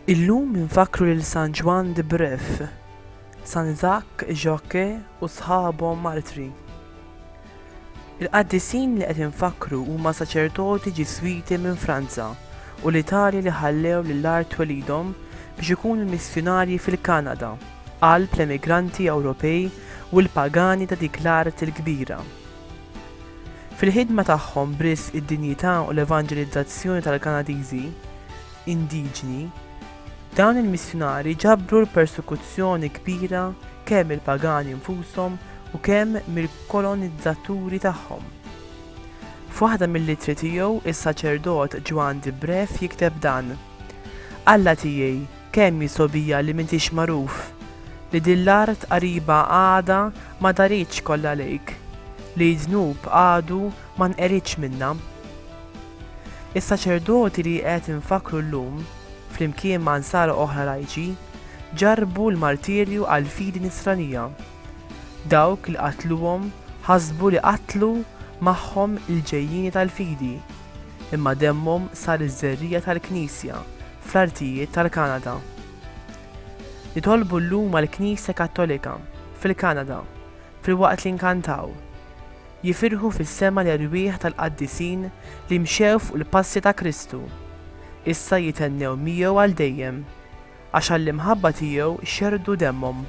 Illum infakru lil San Ġwann de Bref, San Zak, Jacques u sħabhom martri. Il-qaddisin li qed infakkru huma saċerdoti Ġiswiti minn Franza u l-Italja li ħallew l-art twelidhom biex ikunu missjunarji fil-Kanada, qalb l-emigranti Ewropej u l-pagani ta' dik l-art il-kbira. Fil-ħidma tagħhom b'risq id-dinjità u l-evanġelizzazzjoni tal-Kanadiżi indiġni, Dawn il-missjunarji ġabru l-persekuzzjoni kbira kemm mill-pagani nfushom u kemm mill-kolonizzaturi tagħhom. F'waħda mill-ittri tiegħu, is-saċerdot Ġwann di Bref jikteb dan, Alla tiegħi, kemm hi sogħbija li m'intix magħruf, li din l-art qariba għadha ma daritx kollha lejk, li d-dnub għadu ma nqeridx minnha. Is-saċerdoti li qed infakkru llum, flimkien ma' Nsara oħra lajċi, ġarrbu l-martirju għall-fidi Nisranija. Dawk li qatluhom ħasbu li qatlu magħhom il-ġejjieni tal-fidi, imma demmhom sar iż-żerriegħa tal-Knisja fl-artijiet tal-Kanada. Nitolbu llum għall-Knisja Kattolika fil-Kanada filwaqt li nkantaw. jifirħu fis-sema l-erwieħ tal-qaddisin li mxew fuq il-passi ta' Kristu, issa jithennew miegħu għal dejjem, għax għall-imħabba tiegħu xerrdu demmhom.